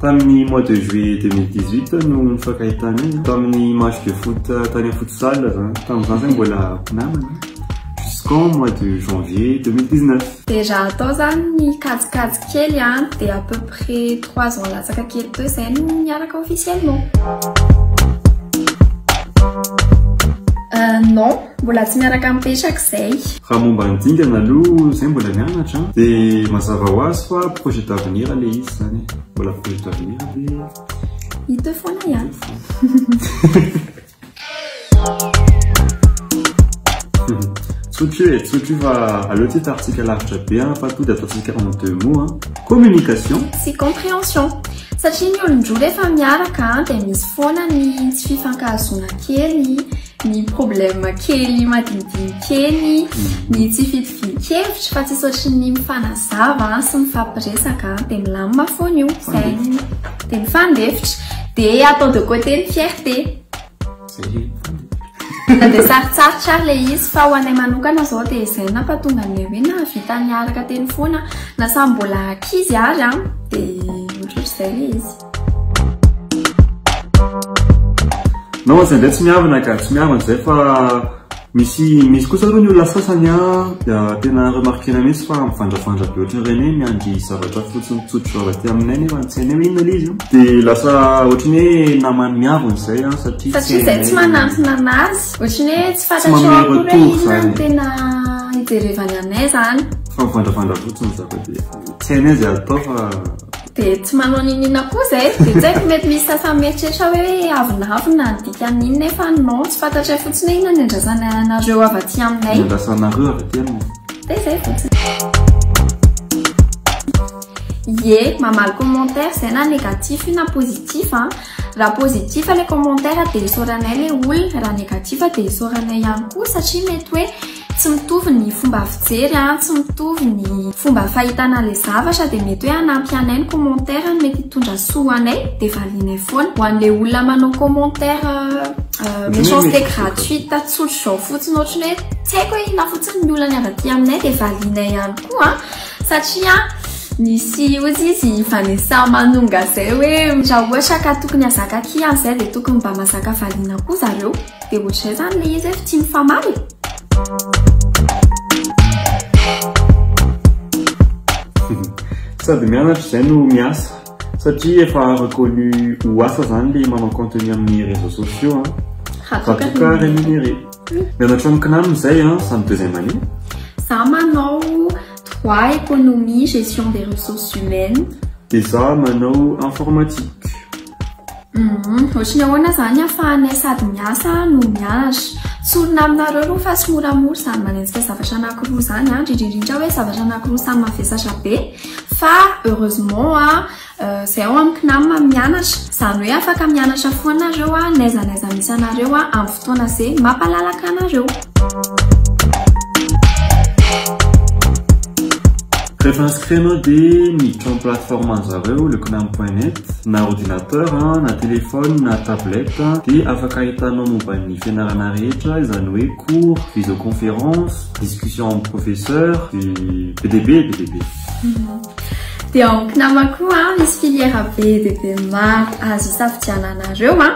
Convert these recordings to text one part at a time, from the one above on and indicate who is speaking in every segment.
Speaker 1: Tamin'ny mois de juillet 2018 no nifankahitana izy tamin'ny match de foot tany amin'ny futsal zany tamin'izany zany mbola mpinamana jusqu'en mois de janvier 2019 dia raha atao zany
Speaker 2: ny kajikajy kely a dia à peu près trois ans latsaka kely teo izay no niaraka officiellement euh, non Mbola tsy miaraka mipetraka izay. Raha momba ny dingana
Speaker 1: aloha izay mbola mianatra dia mazava ho azy fa projet d'avenir ilay izy izany e. Mbola projet d'avenir dia hita eo
Speaker 2: foana ihany.
Speaker 1: Tsotry io e, tsotry io fa aleo tsy tarintsika lavitra be an, fa tonga dia ataontsika en deux mots an, communication sy compréhension.
Speaker 2: Satria ny olon-droa rehefa miaraka dia misy foana ny tsy fifankahazoana kely. ny problème kely madinidinika eny, ny tsy fitovian-kevitra fa tsisy ohatry ny mifanazava sy mifampiresaka dia milamina foana io, izay dia mifandefitra dia atao de côté ny fierté. Dia sarotsarotra ary ilay izy fa ho anay manokana izao dia izay no nampahatonga anay hoe nahavita niaraka teny foana na samy mbola ankizy ary an, dia ohatrohatr'izay ilay izy.
Speaker 1: Non izay ndray tsy miavana ka, tsy miavana izay fa misy misy kosa aloha ny olona sasany a dia tena remarquena mihitsy fa mivandravandra be ohatry ny reny hoe miandry zavatra fotsiny tsotra avy aty aminay nefa ny tsy hainay hoe inona ilay izy dia lasa ohatry ny hoe namany miavona izay a satria satria izay tsy manantona anazy
Speaker 2: ohatry ny hoe tsy fantatrao akory hoe inona no tena hijerevany anay izany fa mivandravandra
Speaker 1: fotsiny zaka dia tsy hainay izay atao fa Dia tsy
Speaker 2: manao niniana koa izay. Dia tsy haiko mety misy sasany mieritreritra hoe avonavona ny dikan'iny nefa non tsy fantatray fotsiny hoe inona ny andrasana anareo avy aty aminay. Ny andrasanareo avy
Speaker 1: aty
Speaker 2: aminay. Dia izay fotsiny. Ye, mamaly commentaire zay na négatif io na positif a. Raha positif ilay commentaire dia isaoranay ilay olona, raha négatif dia isaoranay ihany koa satria mety hoe Tsy mitovy ny fomba fijery an, tsy mitovy ny fomba fahitana ilay zavatra dia mety hoe hanampy anay ny commentaire ny mety hitondra soa ho anay dia valianay foana. Ho an'ilay olona manao commentaire méchanceté gratuite tsotra izao fotsiny ohatran'ny hoe tsy haiko hoe inona fotsiny ny olany avy aty aminay dia valianay ihany koa satria misy ozy izy Vanessa Manonga izay hoe raha ohatra ka tokony hazaka kihana izay dia tokony mba mazaka valiana koa zareo. Dia ohatr'izay
Speaker 1: zany ilay izy efa tsy mifamaly Sady mianatra izay no miasa satria efa reconnu ho asa zany le manao contenu amin'ny réseaux sociaux an. Hatoka rémunéré. Mianatra amin'ny CNAM izay an, samy deuxième année. Za manao
Speaker 2: droit, économie, gestion des ressources humaines. Dia za
Speaker 1: manao informatique. Humm ohatry
Speaker 2: ny ahoana zany afahanay sady miasa no mianatra? Tsorina aminareo aloha fa tsy moramora izany manenjika zavatra anakiroa zany an, indrindra indrindra hoe zavatra anakiroa samy mavesatra be fa heureusement an zay ao amin'ny CNAM mianatra izany hoe afaka mianatra foana nareo an, n'aiza n'aiza misy anareo an amin'ny fotoana ze mampalalaka anareo.
Speaker 1: Rehefa inscrit anao dia miditra amin'ny plateforme an'zareo le konami point net na ordinateur na téléphone na tablette dia afaka ahitanao momba ny fianarana rehetra izany hoe cours, visioconférence, discussion amin'ny professeur dia be dia be be dia be. Dia
Speaker 2: ao Knama koa misy filière be dia be maro azo isafidiananareo a.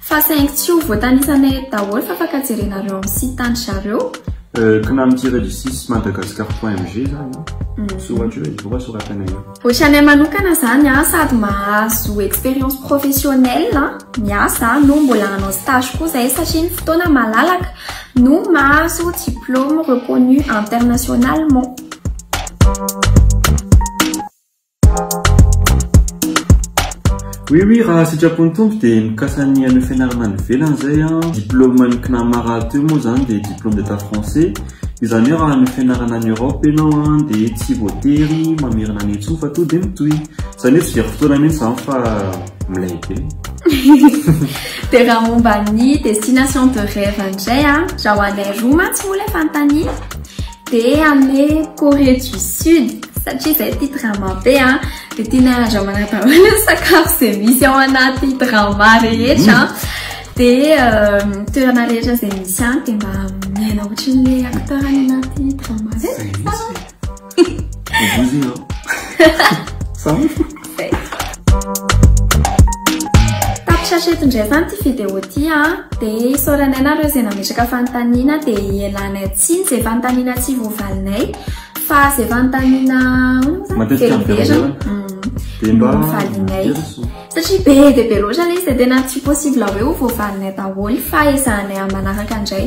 Speaker 2: Fa saingy tsy ho voatanisanay eto daholo fa afaka jerenareo amin'ny site an-dry zareo. Euh, kna tiré
Speaker 1: du six madagascar point mg izany an. Mm. Soratra eo e, voa soratana eo. Ohatranay
Speaker 2: manokana izany an, sady mahazo expérience professionnelle an, miasa an, no mbola hanao stage koa izahay satria ny fotoana malalaka no mahazo diplôme reconnu internationalement.
Speaker 1: Oui oui raha sitrapon'ny Tompo dia mikasa ny haneo fianarana any ivelany izay an, diplôme ny CNAMA rahateo moa izany dia diplôme d'état français, izany hoe raha haneo fianarana any Europe ianao an dia tsy voatery mamerina any intsony fa toa dia mitohy, izany hoe tsy very fotoana mihintsy izany fa milay be. Dia raha momba ny destination de rêve indray an, raha ho anay
Speaker 2: roa mantsy moa ilay fanontaniana, Dia any Corée du Sud, satria izay tia drama be an, dia tianay handramana daholo ny sakafo izay misy ao anaty drama rehetra an. Dia toerana rehetra izay misy any dia mba miaina ohatran'ilay acteur any anaty drama izay. Izay mihitsy. Ho voizina aho. Sa? Tapitry eto indray izany ity vidéo ity a. Dia isaoranay nareo izay nametraka fanontaniana dia hialanay tsiny izay fanontaniana tsy voavalinay fa izay fanontaniana matetika miverina. Dia mba valinay. Satria be dia be loatra ilay izy dia tena tsy possible hoe ho voavalinay daholo fa ezahanay amin'ny manaraka indray.